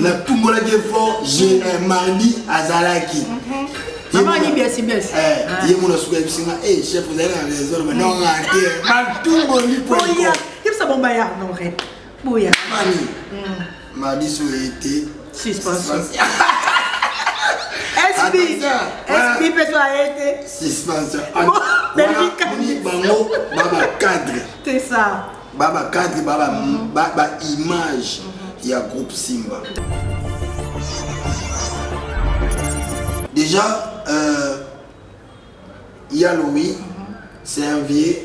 natumbolaki fort je mardi azalaki ye mona suka yebisi nga chef ozali na raison loba nonga te batumboli yebisa bomba ya nore boya mani mardi so eye te suspension SB SB peso aye te suspension bango baba cadre c'est ça ba ba cadre ba ba, mm. ba, ba image mm -hmm. ya groupe Simba déjà euh, ya Louis mm -hmm. c'est un vieux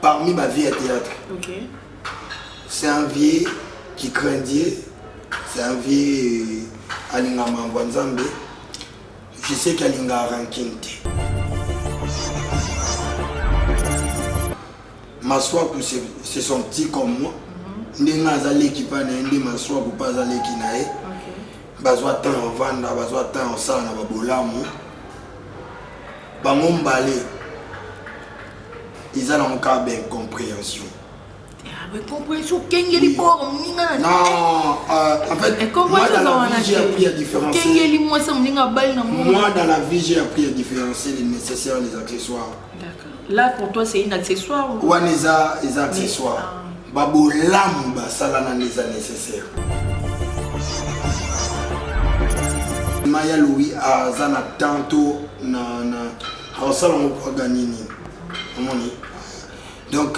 parmi ma vie à théâtre okay. c'est un vieux qui craint Dieu c'est un vieux euh, alinga mambo nzambe je sais qu'alinga ranking te Masuaku c'est son petit comme moi. Ndenge aza leki pa na ye nde Masuaku pa aza leki na ye. Bazwa temps ya vanda, bazwa temps ya sala na babolamu. Bango mbale eza nango kaka ba incomprehension. incomprehension okengeli bor moninga na naekengeli mwasi ya moninga abali na moi dans la vie j'ai appris à différencier les nécessaires les accessoires Là pour toi c'est une accessoire ou Wana eza eza accessoire. Ah. Ba bolamu ba sala na eza nécessaire. Maya Louis aza na tanto na na asala ngo kwa gagner nini. Omoni? Donc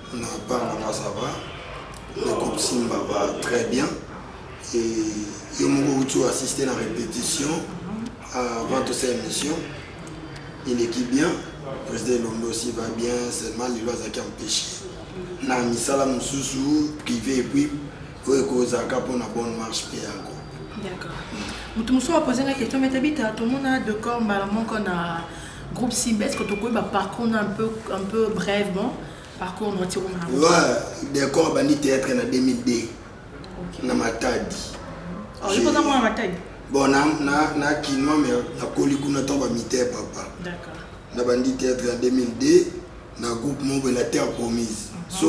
Na part na nga ça va. Na groupe Simba va très bien. Et yo moko outi o assister na répétition avant tout cette émission. Il est qui bien. Président Elombe aussi va bien, seulement lelo azalaki empêché. Na misala mosusu privé et puis oyo ekozalaka mpo na bonne marche mpe ya groupe. D'accord. Moto mosusu apose nga question mete bita tomona decor mbala moko na Groupe Simba, est-ce que tu connais parcours un peu, un peu brèvement Parcours notre Oui, d'accord, bandi théâtre en 2002. Ok. Na Matadi. Oh, je pense à moi à Matadi. Bon, na na na kinois mais na koli kuna to ba mité papa. D'accord. Na bandi théâtre en 2002. na groupe moko boye na terre promise so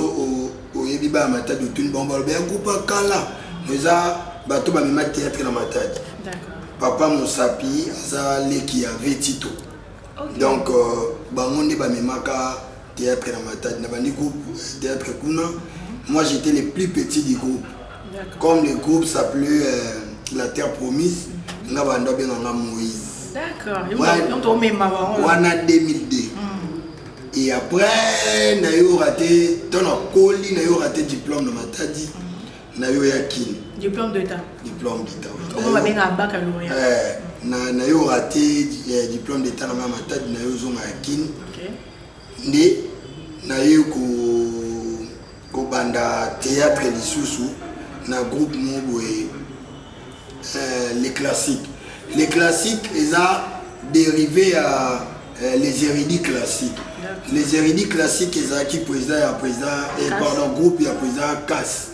oyebi baya matadi otuni bango baloba ya groupe ya kala eza bato bamema théâtre na matadi papa mosapi aza leki ya vetito okay. donc euh, bango nde bamemaka théâtre na matadi na bandi groupe euh, théâtre kuna moi j'étais le plus petit du groupe comme le groupe s'appelait euh, la terre promise mhm. nga banda obenga nga moïse wana 2002 et après nayoka te ntango nakoli nayoka te diplôme na matadi mm. nayoya kini diplôme d'état diplôme d'état nayoka te eh, diplôme d'état na nga matadi nayo ozonga ya kini nde naye ko kobanda theatre lisusu na groupe mo boye euh, les classiques les classiques eza dérivé ya euh, les hérédits classiques les hérédits classiques ezalaki président ya président eh, pardon groupe ya président kas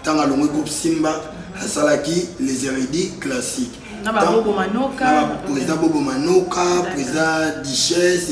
ntango alongwe groupe simba asalaki les hérédits classiques président bobo manoka président dichesse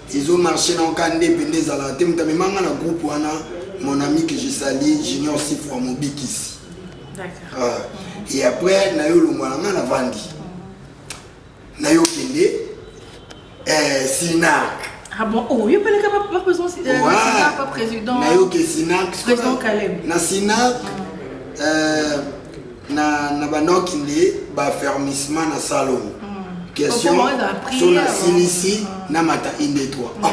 Tizo marche na oka ndepe nde ezalaka te moto amema nga na groupe wana mon ami que je sali junior sifwa mobikisi ah. et après nayo olongwa na nga na vandi nayo okende eh, sinar Ah bon, oh, yo pele kama pas besoin de euh, Sinak, pas président. Na yo ke Sinak. Président Kalem. Na Sinak, mm. euh, na na banoki nde ba fermissement na salon question so na silisi na mata inde toi ah,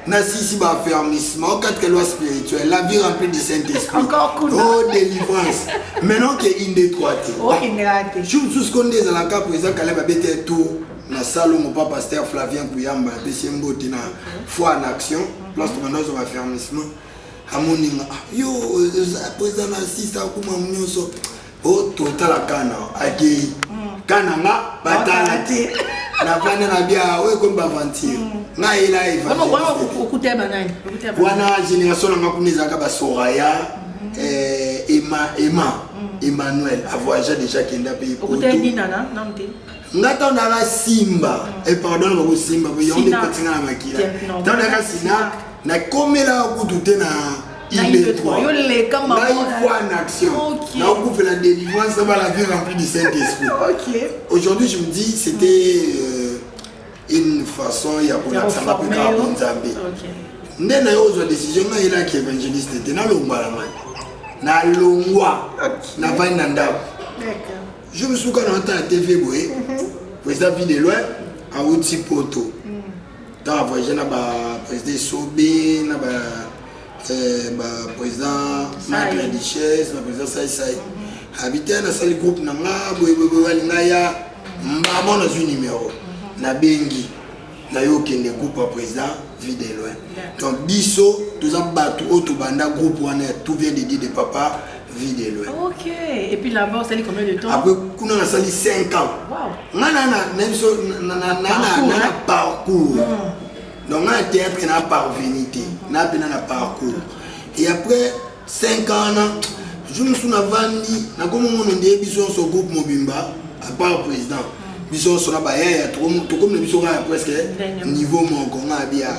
na sisi ba fermissement kati kelwa spirituel la vie remplie du saint esprit oh délivrance maintenant ke inde toi te ah, jour mosusu ko nde ezalaka po eza kale babete tour na salongo pa pasteur flavien kuyamba apesi ye mbote na foi en action place tomanda ozwa ba fermissement amoninga ah, yo eza na sisa akuma nyonso totala kana akei mm. kana nga batala te navanda na bia oyo ekomi baventure mm. nga yela wana génération nanga kuna ezalaka basoraya mm-hmm. eh, ema ema mm. emmanuel avoyagea déjà kenda mpe nga ntango nayaka simba epardon eh, bakosimba yango nde kotinga na makila ntango nayaka sina Na komela kutu te na IB3. Yo leka maman. Na une fois en action. Okay. Na okupe la délivrance dans la vie remplie du Saint-Esprit. OK. Aujourd'hui, je me dis c'était euh, une façon ya ko la sama pe ka bonzambe. OK. Nde na yo zo décision na ila ki évangéliste te na longwa la man. Na longwa. Okay. Na vani na ndako. D'accord. Je me souviens quand on entend la TV boye. Mm -hmm. Président Ville de loin, à Outi Poto. Ntango a voyage na ba président Esobe na ba eh, ba président Marc la Duchesse na président Sai Sai habite nasali groupe na nga boyeboyeboye alinga ya mbamo nazwi numero mhm. nabengi na yo okende groupe ya président vie de loin donc biso toza bato oyo tobanda groupe wana ya tout vient de dire de papa vie de loin ok et puis là-bas osali combien de temps après kuna nasali 5 ans nga na na na biso na na na na parcours donc nga na théâtre na parvenu te na bina na parcours et après 5 ans na jour mosusu navandi nakomongono nde biso nyonso groupe mobimba à part président biso nyonso na bayaya tokomi na biso kaka presque niveau moko nga bia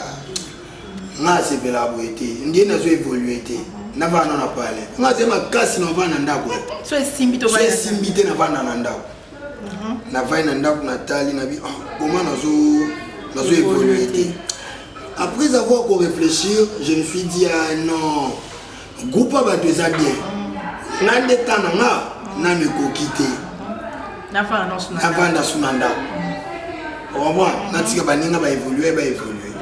nga asepelaka boye te ndie nazo évolue te navanda na pale nga aza makasi navanda na ndako so esimbi te navanda na ndako mhm. navai na ndako natali nabi ah, koma nazo nazo évolue te après avoir ko réfléchir je me suis dit ah non groupe ya bato eza bien nga nde ta na nga nano ekoki te navanda suna ndako omwa natika baninga baévolue baévolue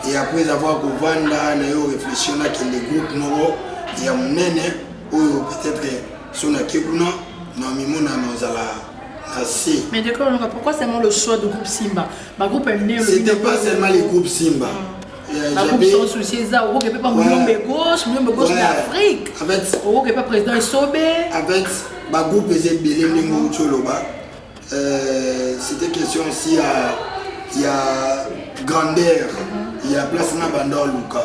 et après avoir kovanda na yo réfléchir nakende groupe moko ya monene oyo peut-être so nake kuna na mimona nazala na se mais de pourquoi seulement le choix de groupe simba bagroupe ya minene c'était pas seulement les groupes simba mm. bakubi sans souci eza okoke mpe pa muyombe gauche muyombe gauche na afrique okoke mpe président esobe avec bagroupe eza ebele ndenge outi oloba euh, c'était question aussi ya ya grandeur mhm. ya place na banda oluka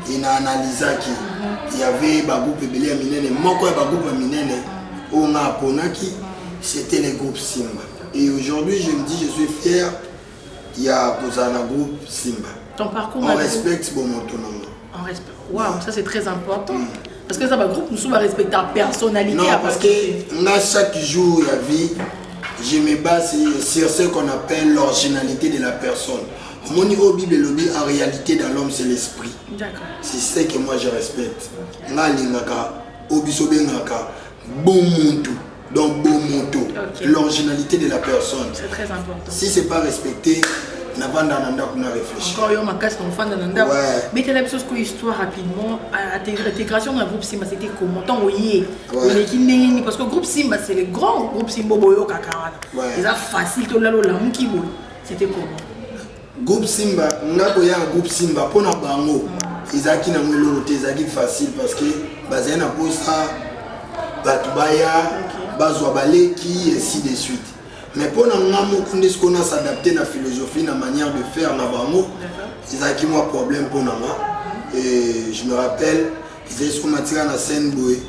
e na analysaki mhm. yave bagroupe ebele ya minene moko ya bagroupe ya minene mhm. oyo nga aponaki c'était le groupe simba et aujourd'hui je me dis je suis fier ya kozala na groupe simba ton parcours on respecte bomoto na ngo on respecte waouh ça c'est très important mm. parce que eza bagroupe mosusu barespecta personnalité non parce que nga chaque jour ya vie je me base sur ce qu'on appelle l'originalité de la personne omoni oyo bible elobi en réalité dans l'homme c'est l'esprit c'est ce que moi je respecte nga alingaka oyo biso obengaka Bomuntu. Donc, bon moto, okay. l'originalité de la personne. C'est très important. Si c'est pas respecté, navanda na ndako na réfléchir encore yo makasi nafanda na ndako betela biso sikoyo histoire rapidement intégration na groupe simba c'était comment ntango oye oleki ndenge nini parce que groupe simba c'est le grand groupe simba oboyokaka wana eza facile tolala olamuki boye c'était comment Groupe Simba nga koya na groupe Simba mpo na bango ezalaki nango eloko te ezalaki facile parce que bazali na mposa bato baya bazwa baleki ainsi de suite mais mpo na nga moko nde sikoyo na s'adapte na philosophie na manière de faire na bango ezalaki mwa problème mpo na nga et je me rappelle ezali sikoyo matika na scène boye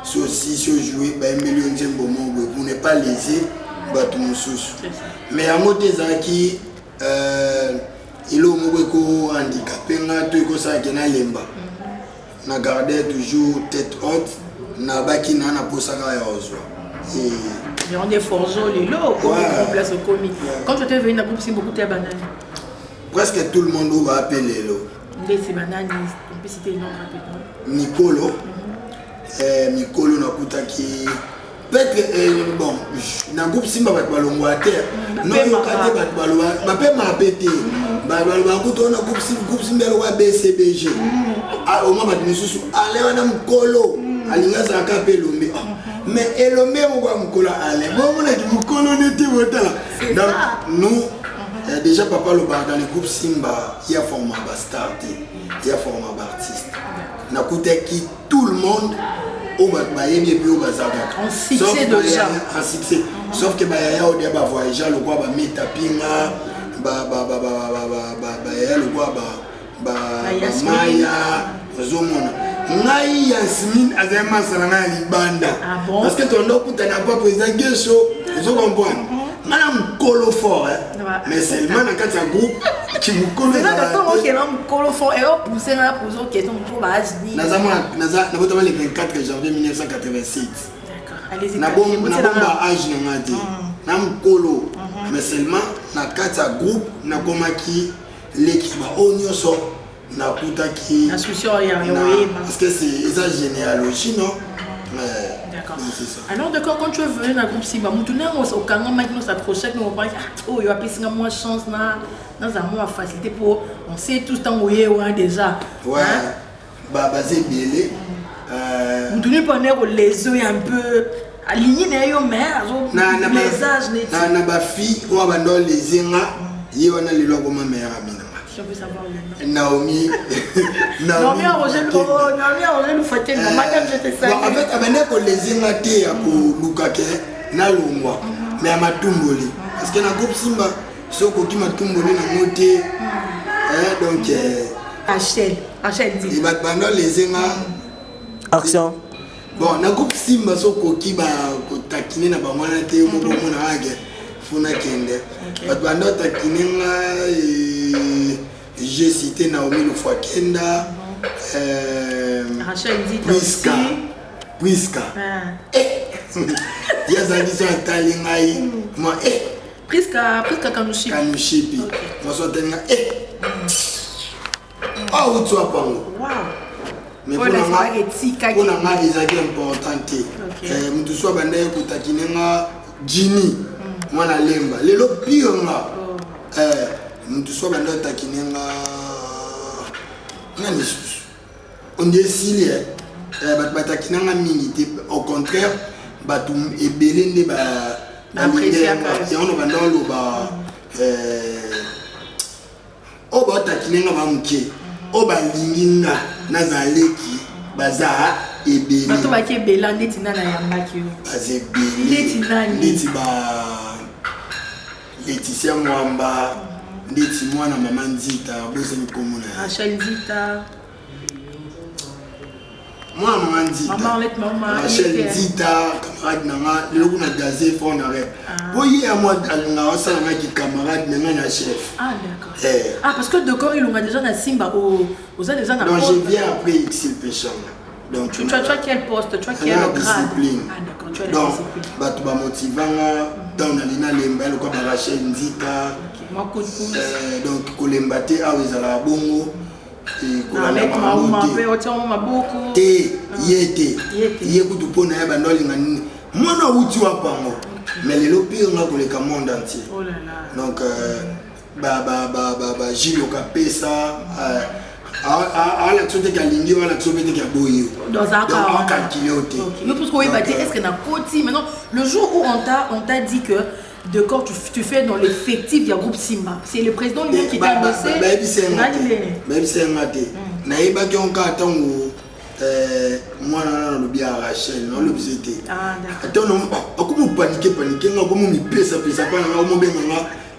Soki osisi ojoue bayembeli yo nzembo moko boye pour ne pas lese bato mosusu mais yango te ezalaki euh, eloko moko ekohandikape nga to ekosala ke nalemba mhm. na garde toujours tête haute nabaki na na mposa kaka ya ozwa yango nde forge lelo place okomi quand tu étais venu na groupe simbokuta ya banani presque tout le monde oyo baape lelo Ndesi banani mpisi te non rapidement. Mikolo mhm. eh, mikolo nakutaki peut-être eh, bon na groupe simba bato balongwa te mm, noyoka te bato baloba bapema mpe te mm. baloba kutu wana groupe simba eloko ya bcbg mm. ah, omwa bato mosusu ale wana mokolo alingi azalaka mpe elombe ah, mm-hmm. mais elombe moko ya mokolo ale bomonaki mokolo nete botala donc nous Eh, déjà papa alobaka dans le groupe simba ye aforma bastar te ye aforma baartiste nakutaki tout le monde oyo bato bayebi epi oyo baza kaka en succès sauf ke bayaya odia bavoyagea lokwa bameta pinga bayaya lokwa ba ba maya ozomona ngai yasmine azali masa na ngai ya libanda ah parce que tonda okutana pa président geso ozokompwana nga na mokolo fort eh. mais seulement na kati ya groupe kimokolonabotamali 24 janvier 1987 nabomba age na nga te na mokolo mais seulement na kati ya groupe nakomaki leki ya baoyo nyonso nakutaki parce que eza généalogie non D'accord. Alors d'accord, quand tu es venu dans le groupe Simba, mutu na ngo so kanga maki no sa prochaine no ba oh yo apesi nga moi chance na na za moi facilité pour on sait tous tango ye wa déjà. Ouais. Hein? ba baza ebele euh, mutu nipo ane kolezo ya mpe alingi na ye yo me azolesage neti na bafille oyo abanda oleze nga ye wana lelo akoma meilleur ami na Naomi. Naomi arozelufatenamadamjetesaaafet abandi akoleze nga te ya koluka ke nalongwa me ya matumboli parce que na groupe simba so okoki matumboli nango te eh, donc achel eh. achel di eh, bato bando lese nga mm. action bon nakoki simba so okoki bakotakine na bango wana te moko omona age funa kende bato bando atakine nga je cité naomi lofua kenda priska priska ye azalaki so atali ngai ma e Prisca, Prisca Kanushipi. Kanushipi. Okay. Maso atenga eh. Ah, où tu as parlé Wow. Mais pour la marque etika pour la marque ezaki important te. Eh, mutu soit banda ye kotakine nga Jimmy. Mwana mm. lemba. Lelo pire nga. Oh. Eh, mutu soit banda takine nga nani lisusu ondi esili eh, bato bataki nanga mingi te au contraire bato ebele nde bayango banda oloba oyo baotakine nga ba moke oyo balingi nga nazaleki baza ebele bato baki ebela ndeti nana yambaki yo baza ebele ndeti ba Laetitia Mwamba ndeti mwana mama Nzita bosani komona ye. Asha Nzita. Mwana mama Nzita. Mama Arlette mama. Asha Nzita camarade na nga lelo kuna gaze fort na rep. Po ye ya mwa alonga osala nga ki camarade na nga na chef. Ah d'accord. Eh. Ah parce que Decor ilonga déjà na Simba o oza déjà na. Donc je viens après XL Peshanga. Donc, tu, tu, as, tu as quel poste Tu as quel grade discipline. Ah, d'accord, tu as Donc, discipline. bato bamotivanga ntango nali nalemba ye lokola barachel nzika euh, donc kolemba te awa ah, ezalaka bongo te ye te ye kutu mpo na ye bando alinga nini mwana awuti wapango mais lelo pire nga koleka monde entier oh donc euh, ba ba ba ba ba jilo kapesa alakisa te kalingi yo alakisa mpe te kaboyi yoakalkile yo te yo plus koyeba te est ce que nakoti maintenant le jour où on t'a on t'a dit que de quand tu, tu fais dans l'effectif du groupe Simba. C'est le président lui qui t'a annoncé. nayebisa yanga te nayebaki yango kaka ntango mwana wana nalobi ya rachel nalobisa te ata akomi opanike panike nga akomi omipesapesa mpa nanga omobenga nga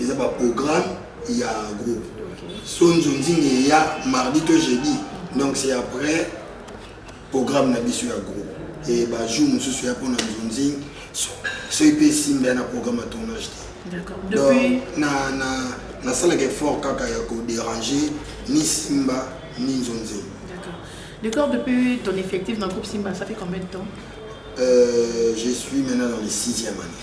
eza ba programme ya groupe sonzo nzinga eya mardi to jeudi donc c'est après programme na biso ya groupe e bajour mosusu ya mpona nzonzing soki mpe esimba ya na programme ya tournage te donc nasalaka effort kaka ya koderange ni simba ni nzonzing D'accord. Depuis ton effectif dans le groupe Simba, ça fait combien de temps euh, Je suis maintenant dans les sixième année.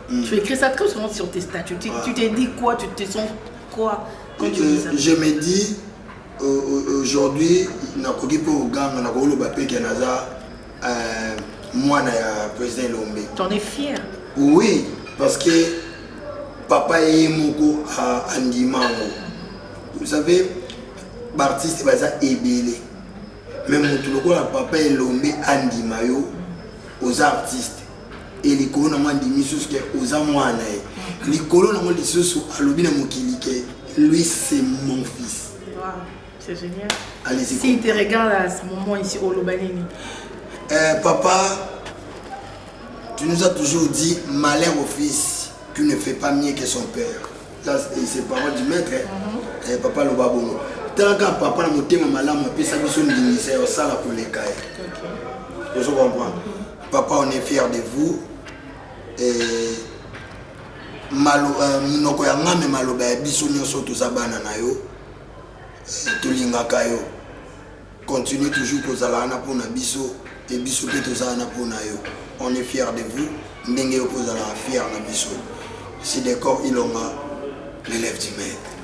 Mm. Tu écris ça très souvent sur tes statuts. Tu, ah. tu te dis quoi Tu te sens quoi quand tu dis ça Je me dis, euh, euh aujourd'hui, nakoki mpe oganga nakoki oloba mpe ke naza euh, mwana ya président elombe t'en es fier oui parce que papa ye moko andima yango vous savez baartiste baza ebele mais motu lokola papa elombe andima yo oza artiste e likolo nango andimi lisusu ke oza mwana na ye likolo nango lisusu alobi na mokili ke lui c'est mon fils C'est génial. Allez-y. Si te regarde à ce moment ici au Lobanini. Euh, papa, tu nous as toujours dit malheur au fils, tu ne fais pas mieux que son père. Ça, c'est parole du maître. Hein? Mm -hmm. eh, papa Lobabongo. Tanaka papa na motema malamu apesa biso ndingisa ya osala koleka ye. Okay. Ozo comprendre. Papa on est fier de vous et malo euh, munoko ya ngame maloba ya biso nyonso toza bana na yo tolingaka yo continue toujours kozala wana mpo na biso e biso mpe toza wana mpo na yo on est fier de vous ndenge yo mpe ozalaka fier na biso sidecor ilonga l'élève du maître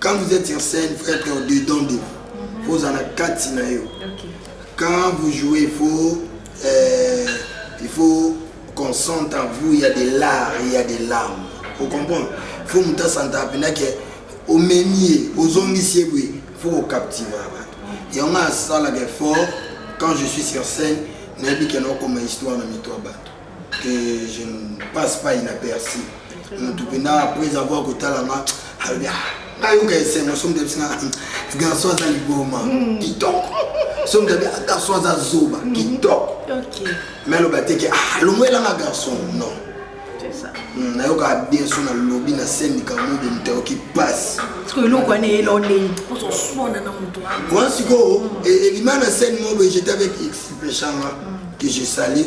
quand vous êtes sur scène faut être dedans de vous faut ozala na kati na yo quand vous jouez faut euh, il faut qu'on sente en vous il y a des larmes il y a des larmes vous comprenez faut moto asanta mpena ke omemi ye ozongisi ye boye faut kokaptiva bato yango asalaka effort quand je suis sur scène nayebi ke naokoma histoire na mito ya bato que je ne passe pas inaperçu mutu mpena après avoir kotala nga alobi nayoka esengo soki moto abisinga garçon aza liboma kitoko soki moto abi garçon aza zoba kitoko mais aloba te ke alongwelanga garçon non nayoka bien so nalobi na scène likambo mobe moto ayoki mpasi wana sikoyo elima na scène mobe jete avec expulpeshanga que je salir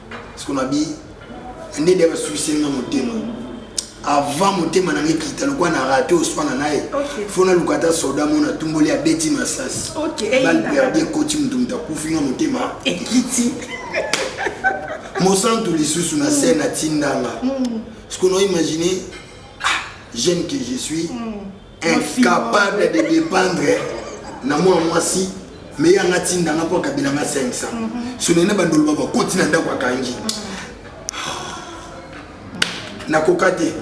siko na bi nde nde basuisi nga motema avant motema na ngai kita lokwa na rate oswana na ye fo naluka ata soda mona atumboli abeti masasi balperde ekoti moto moto akufi nga motema ekiti mosantu lisusu na se natindanga mm. sikono imagine ah, jeune que je suis mm. incapable de dépendre na mwa mwasi meye anga tinda nga mpo akabela nga 500 sonene mhm. bandolo ba bakoti na ndako akangi nakoka te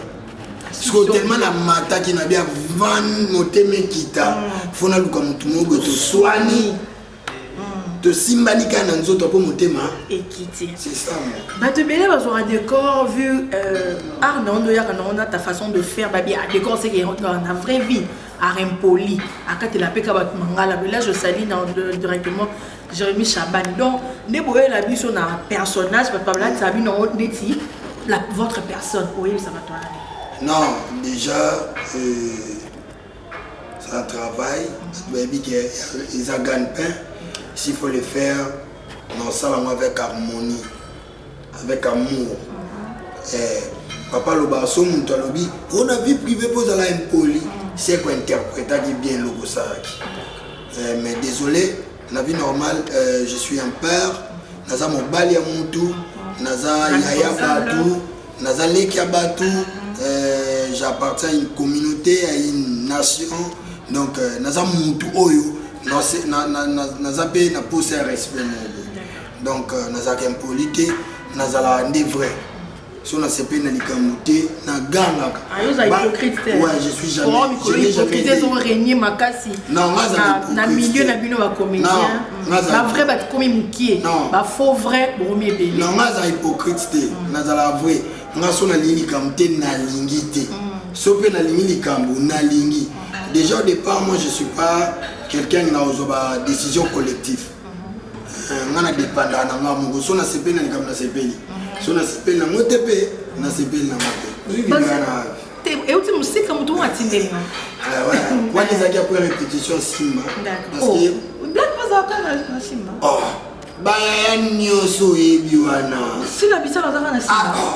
sikoyo telema namataki na bia van motema ekita mpo mhm. naluka motu moko boye toswani tosimbani kaka na nzoto mpo motema ekiti bato ebele bazwaka décor vu euh, art na ondo oyaka na ona ta façon de faire babi ah, décor seke eotraka na vraie vie art impoli akatela mpe ka bato mangala là je sali na directement jérémi chabani donc nde boyela biso na personnage bato babalatisa bino ndeti votre personne oyebisa bato wana non déjà euh... ça travaille bayebi ke eza gagne pain s'il faut le faire na osala yango avec harmonie avec amour eh, papa aloba so moto alobi o na vie privé mpo ozala impoli seko interpretaki bien eloko osalaki eh, mais désolé Na vie normale, euh, je suis un père, naza mobali ya mutu, naza yaya batu, naza leki ya batu, euh, j'appartiens à une communauté, à une nation, donc euh, naza mutu oyo, naza pe na posa ya respect moko. Donc euh, nazalaka impoli te, nazalaka nde vrai. so nasepeli na likambo te nagangaka ah, je suis jamais makasi na milieu na bino bacomédien bavrai bato komi mokie bafaux vrai bokomi ebele na nga aza hypocrite te mm. nazala vrai nga so nalingi likambo te nalingi te mm. so mpe nalingi likambo nalingi mm. déjà au départ moi je suis pas quelqu'un na ozwa ba décision collective nga na depanda na nga moko so nasepeli na likambo nasepeli mhm. so nasepeli nango te mpe nasepeli nango te euti mosika moto oyo atindeli nga wana ezalaki apres répétition simba parceke oh, black bazalaka na simba oh, bayaya nyonso oyebi wana sila bisala azaka na simba ah, oh.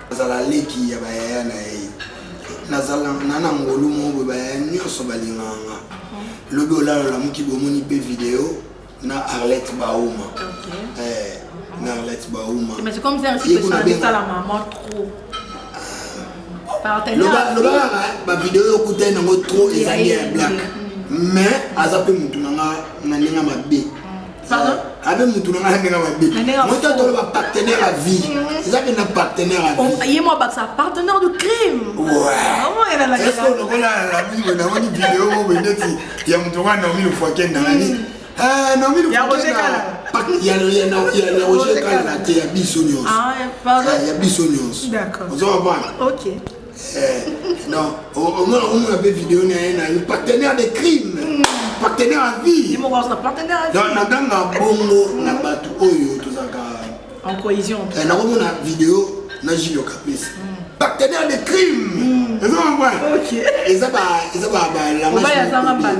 Nazala leki ya bayaya na ye. Nazala na na ngolu moko bayaya nyonso balingaka nga. Lobi olala olamuki bomoni mpe video na Arlette Bauma. Okay. Eh, na Arlette Bauma. Mais c'est comme ça aussi que ça dit ça la maman trop. Loba loba ba video yo kutai nango trop ezali ya black. Mais aza mpe mutu na nga na ndenge mabe. abe mutu na ngai ndenge mabe moto atolo ba partenaire à vie mm. eza mpe na partenaire à vie oh, ye mo abakisa partenaire du crime est-ce que lokola lamimo namoni video oyo boye ndeti ya moto ngai naomi lofuakenda nani mm. ah, naomi lofuakenda ya roger kala na te ya biso nyonso ah, ah, ya biso nyonso ozo comprendre non omona omona mpe video na ye na yo partenaire de crime hmm. partenaire à vie donc naganga bongo na bato oyo tozalaka en cohésion eh, nakomona video na julio kapesa hmm. partenaire de crime hmm. eza balamage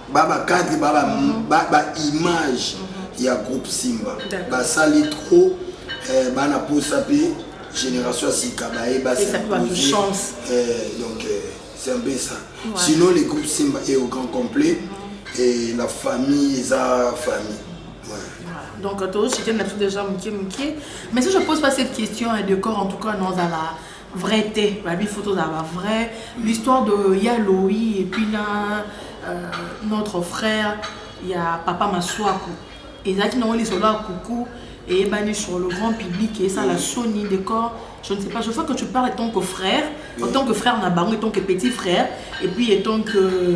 ba ba cadre ba ba, mm. ba, ba image mm -hmm. ya groupe Simba basali trop eh, bana posa pe génération ya sika baye basimposer eh, donc eh, c'est un peu ça ouais. sinon les groupes Simba est au grand complet mm -hmm. et la famille eza famille ouais. donc tozosite na biso déjà moke moke mais si je pose pas cette question de corps en tout cas nozala vrai te ba bifo tozala ba vrai l'histoire de ya loi et puis na euh, notre frère ya papa masuaku ezalaki nango lisolo ya kuku eyebani sur le grand public esala soni de corps je ne sais pas je vois que tu parles en tant que frère en tant que frère na bango en tant que petit frère et puis en tant que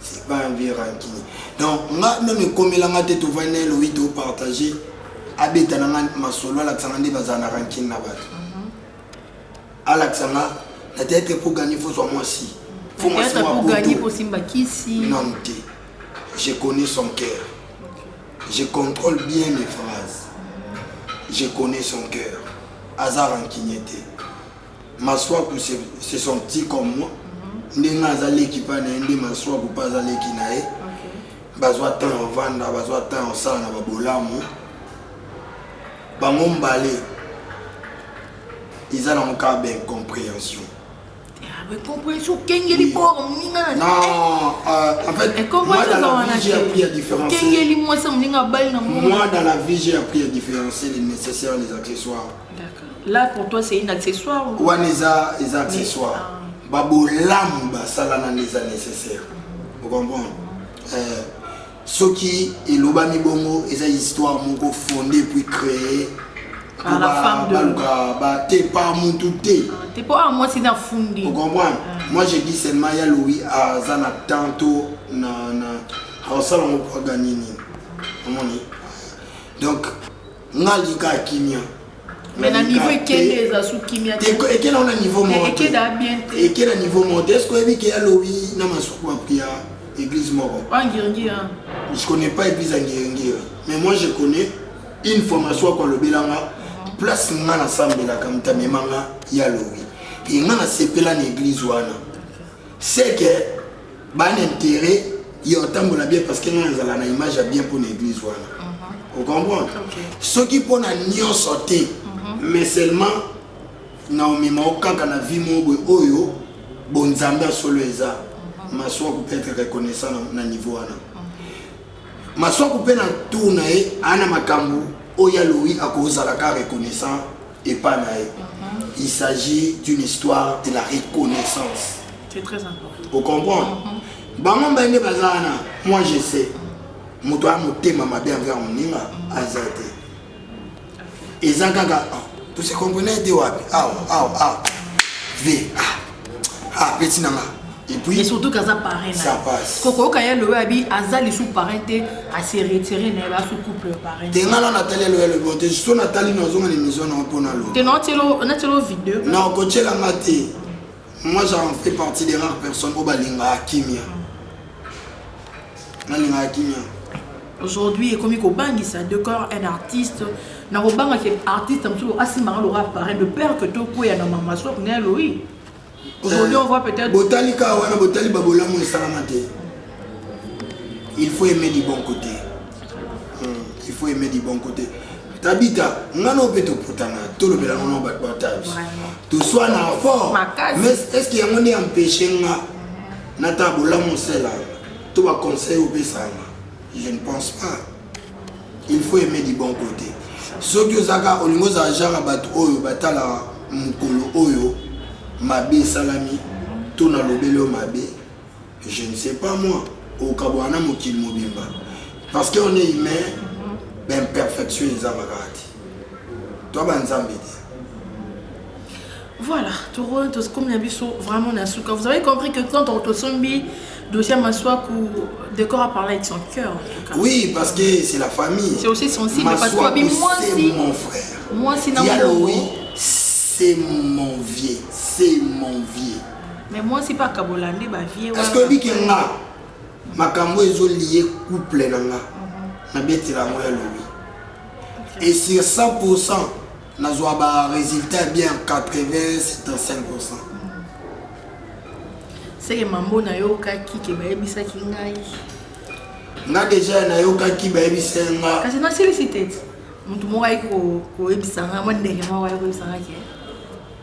c'est pas un vieux ranki donc nga meme ekomela nga te tovandi na ye lobi topartage abeta na nga masolo alakisa nga nde bazala na rankine na bato mhm. alakisa nga na tete po gagner faut soit mwasi faut mwasi non te je connais son cœur je contrôle bien mes phrases je connais son cœur aza rankine te Masuaku c'est son petit comme moi. Ndenge aza leki pa na ye nde Masuaku pa aza leki na ye. Bazwa temps ya vanda, bazwa temps ya sala na babolamu. Bango mbale eza nango kaka ba incomprehension. Ah, incomprehension okengeli bor moninga na non euh, en fait moi dans la vie j'ai appris à différencier okengeli mwasi ya moninga abali na moi dans la vie j'ai appris à différencier les nécessaires les accessoires Là pour toi c'est une accessoire ou wana eza eza accessoire ah. babolamu basala nani eza nécessaire okomprendre euh, soki elobami bongo eza histoire moko fonde puis créer baluka bate pa mutu te okomprendre moi je dis seulement ya louis aza na temps to na aosala ngo po aganye nini omoni donc nga lika kimia mais na niveau ekende eza su kimia te ekenda ona niveau moko ekenda bien te ekenda niveau moko te est-ce que oyebi ke ya lobi na masuku ma priya église moko angiringira ah, hein. je connais pas église angiringira mais moi je connais une fois masuku ako alobela nga place nga nasambelaka motamema nga ya lobi e nga nasepela na église wana c'est que Ban intérêt yo otambola bien parce que ngai nazala na image ya bien mpona église wana uh-huh. ocomprendre soki mpona nyonso te uh-huh. mais seulement na omema o kaka na vie moko boye oyo bonzambe ya solo eza uh-huh. maswa kupe ete reconnaissant na niveau wana maswa kupe na tour na ye ana makambo oyo ya lowi akozala ka reconnaissant epa na ye il s'agit d'une histoire de la reconnaissance c'est très important au comprendre bango mbaye nde baza wana moi je sais moto aya motema mabe envers moninga aza te eza kaka ah, tose comprenai te wapi awa awa awa ve ah. ah petit nanga et puis mais surtout kaza parrain ça passe kokoyoka ya lowe abi aza lisu parrain te ase retire na ye basu couple parrain te nga na natali ya lowe lobo te so natali na ozonga na émission na mpo na lo te na tielo na tielo vidéo na kotiela nga te moi j'en fais partie des rares personnes oyo balingaka kimia nalingaka kimia aujourd'hui ekomi kobangisa de corps un artiste nakobanga ke artiste mosusu asimbanga loka appareil de père que tokweya na mama sok na eloi aujourd'hui on voit peut-être botali kaka wana botali babolamu esalama te il faut aimer du bon côté hmm, il faut aimer du bon côté tabita nga no mpe toputana tolobela ngo na bato batabi toswana fort mais est ce que yango nde empêche nga na ta bolamu oselanga to ba conseil opesanga je ne pense pas il faut aimer du bon côté soki ozaka olingi ozala genre ya bato oyo batala mokolo oyo mabe esalami to na lobeli oyo mabe je ne sais pas moi okabwana na mokili mobimba parce que on est humain baimperfection ezanga kaka te to banzambe te Voilà, toro tokomi na biso vraiment na suka. Vous avez compris que quand on tosombi dossier Maswaku, Décor a parlé avec son cœur. Oui, parce que c'est la famille. C'est aussi sensible Maswaku, parce que Babi, moi aussi, mon frère. Moi aussi, non. Yaloui, c'est mon vieux, c'est mon vieux. Mais moi aussi, pas Kabolande, ma vieux. Parce que Biki nga, makambo ezo lié couple na nga, mhm. na beti la moya Louis. Et sur 100%, nazwa ba résultat ya bien 80-75%. seke mambo nayokaki ke bayebisaki ngai nga deja nayokaki bayebisa nga kasi nasilisi te motu moko ayaki koyebisa nga mwa ndenge moko ayaki koyebisa nga ke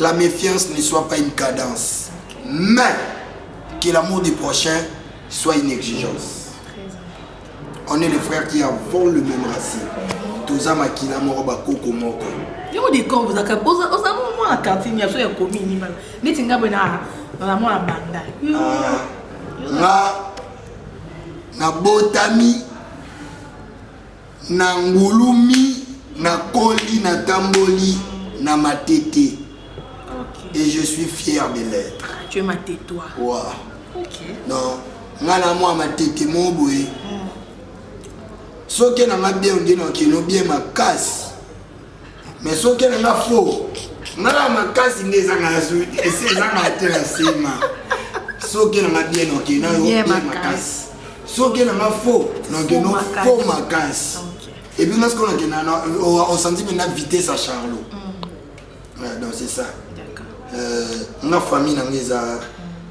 La méfiance ne soit pas une cadence, mais que l'amour du prochain soit une exigence. On est les frères qui avons le même racine. Toza makila moko bakoko moko. Yo de corps vous akap oza oza mo na cantine ya so ya komi ni bana. Neti ngabo na na mo na banda. Ah, nga na botami Na ngulumi, na koli, na tamboli na matete okay. Et je suis fier de l'être. Ah, tu es matetois. Wow. Okay. Non, nga na mwa matete mo boye. Mm. Soki na nga bien ondino kino bien makasi. mais soki elinga faux nga ya makasi nde ezanga ya zui esi ezanga te na nsima soki nanga bien oke na yo bien makasi soki nanga faux nakeno faux makasi ebi nga sikoyo nakenda osanti mpe na vitesse ya charlot mm. donc c'est ça euh, nga famille nanga eza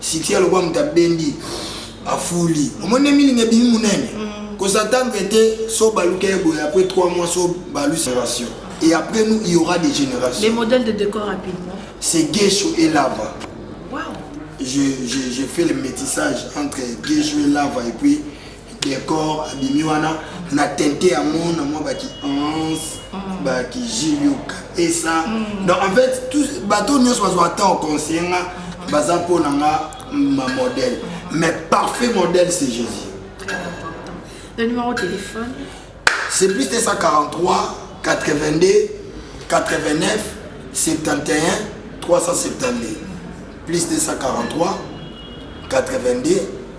Sikia lokola moto abendi afuli omoni nde milinga ebimi monene mm. kosa ntango ete so baluka ye boye après 3 mois so balu génération et après nous il y aura des générations les modèles de décor rapidement c'est guesho et lava wow. je, je, je fais le métissage entre guesho et lava et puis decor abimi wana na tente yango na mwa baki anse mm. baki jiliuka esa mm. donc en fait bato nyonso bazwa temps conseiller nga baza mpo na nga ma modèle mais parfait modèle c'est jésus le numéro de téléphone c'est plus 243 82 89 71 372 plus 243 82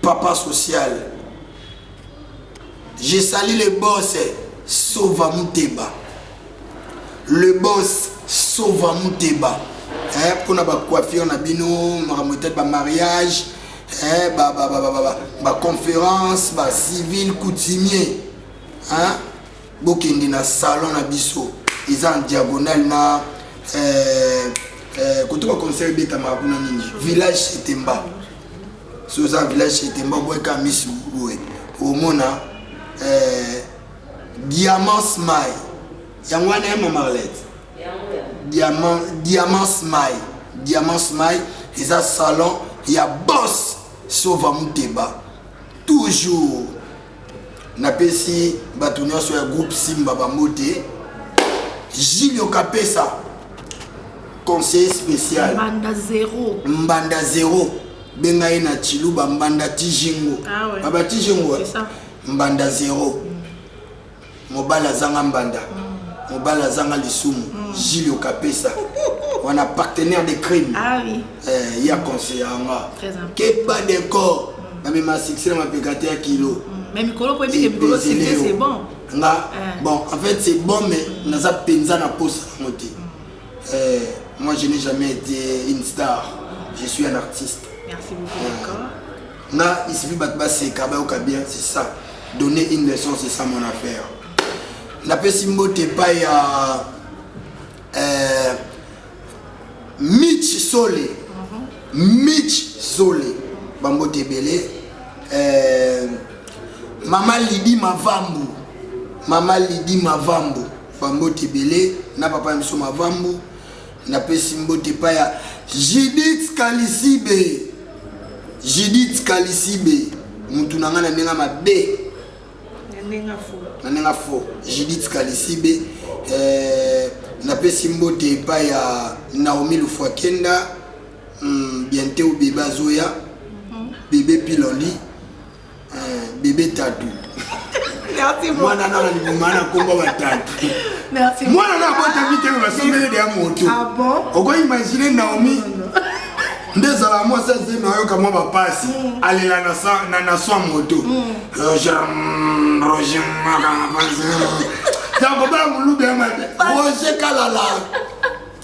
Papa social. Je salue le boss Sova Muteba. Le boss Sova Muteba. Eh, pour na ba coiffure na bino, makambo peut-être ba mariage, eh, ba ba ba ba ba, ba conférence, ba civil coutumier. Hein? Bokende na salon na biso. Ils en diagonale na eh, eh, kotoka conseil beta makuna nini? Village Setemba. soki oza village chete mba boyeka misu boye omona eh, diamant smile yango wana ya mamarlete diamant diamant smile diamant smile eza salon ya boss sova muteba toujours napesi bato nyonso ya groupe simba bambote jilio kapesa conseiller spécial mbanda zero mbanda zero benga ye na chiluba mbanda tijingo ah, ouais. baba tijingo mbanda zero mm. mobali azanga mbanda mobali azanga lisumu mm. jili okapesa wana partenaire de crime ah, oui. eh, ye aconseille yanga keba decor mm. namema succès na mapeka te ya kilo mm. mais mikolo po ebike mikolo succès c'est bon nga eh. bon en fait c'est bon mais mm. naza mpenza na posa yango te mm. eh, moi je n'ai jamais été une star je suis un artiste merci beaucoup eh. d'accord nga il suffit bato baseka bayoka bien c'est ça donner une leçon c'est ça mon affaire napesi mbote epai ya euh, mitch sole mhm. mitch sole bambote ebele euh, mama lidi mavambu mama lidi mavambu bambote ebele na papa ya biso mavambu Napesi mbote epai ya Judith Kalisibe. Judith Kalisibe, mutu na nga na ndenge mabe. Na ndenge fo. Na ndenge fo. Judith Kalisibe. Euh, napesi mbote epai ya Naomi Lufuakenda. Hmm, bientôt bebe azoya. Mhm. Bebe Piloli. Euh, bebe tatu mwana nanga liboma na kombo batatu mwana na abotami te basombeli deya moto ah okoimagine naomi nde ezala mwasi azemi ayoka mwa bapasi mm. alela na swa moto mm. roger roger makamapasi yango baya molubi ya mabe roger kalala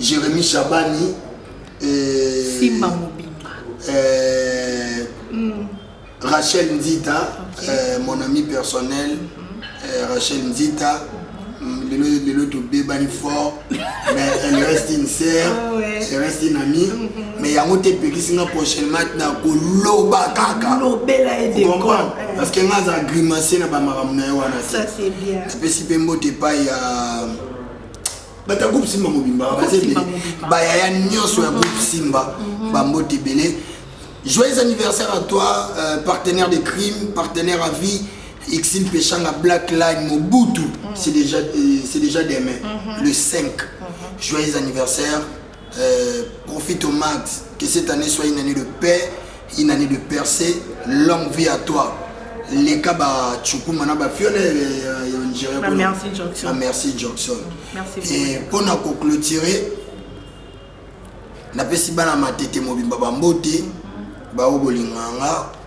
Jeremy Shabani et Simba Mobimba euh, mm. Rachel Nzita okay. euh, mon ami personnel mm -hmm. euh, Rachel Nzita mm-hmm. lelo lelo tobebani fort mais elle reste une sœur oh, ouais. elle reste une amie mm -hmm. mais yango te epekisi nga prochainement na koloba kaka lobela ye de comprendre eh. parce que nga aza grimace na bamakambo na ye wana te apesi mpe mbote epai ya uh, bato ya groupe simba mobimba baza ebele bayaya nyonso ya groupe simba mhm. bambote ebele joyeux anniversaire à toi euh, partenaire de crime partenaire à vie Ixil Peshanga Black Line Mobutu, mm. c'est déjà, euh, déjà demain, mm -hmm. le 5. Mm -hmm. Joyeux anniversaire, Euh, profite au max que cette année soit une année de paix, une année de percée. Longue vie à toi. Les cas bah Chukuma na ba fiole on dirait bah, merci Johnson. Bah, merci Johnson. Merci beaucoup. Et pour nous clôturer na pesi bana matete mobimba ba mbote ba obolinganga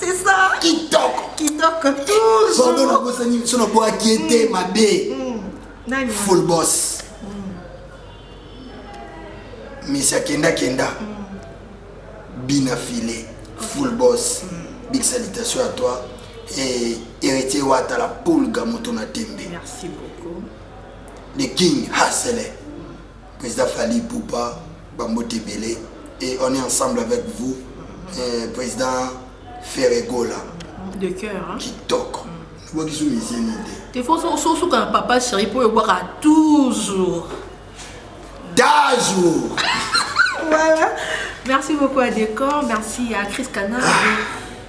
C'est ça. Kitoko. Kitoko. Toujours. Pardon, na bosa ni sono boa kiete mabe. Mm. Nani? Full boss. Mm. Misia kenda kenda. Mm. Bina filet. Full boss. Mm. Big salutation à toi. Et héritier Wata la poule Gamoto na Tembe. Merci beaucoup. Le King Hassele. President Fally Ipupa, bambote ebele et on est ensemble avec vous eh, President Ferre Gola de cœur hein? kitoko mm. bokisu mizeni te ifo sosuka na papa chéri mpo oyobwaka toujours dajour voilà merci beaucoup à décor merci à chris canard ah.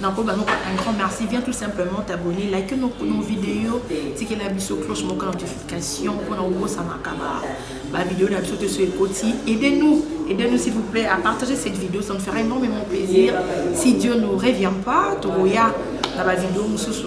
nakoba noko un grand merci viens tout simplement t'abonner like nos, nos vidéos tikela biso cloche moko notification mpona obosanaka bavideo na biso te so ekoti aide nous aide nous s'il vous plaît à partager cette vidéo ça me fera énormément plaisir si dieu ne revient pas tokoya na bavideo mosusu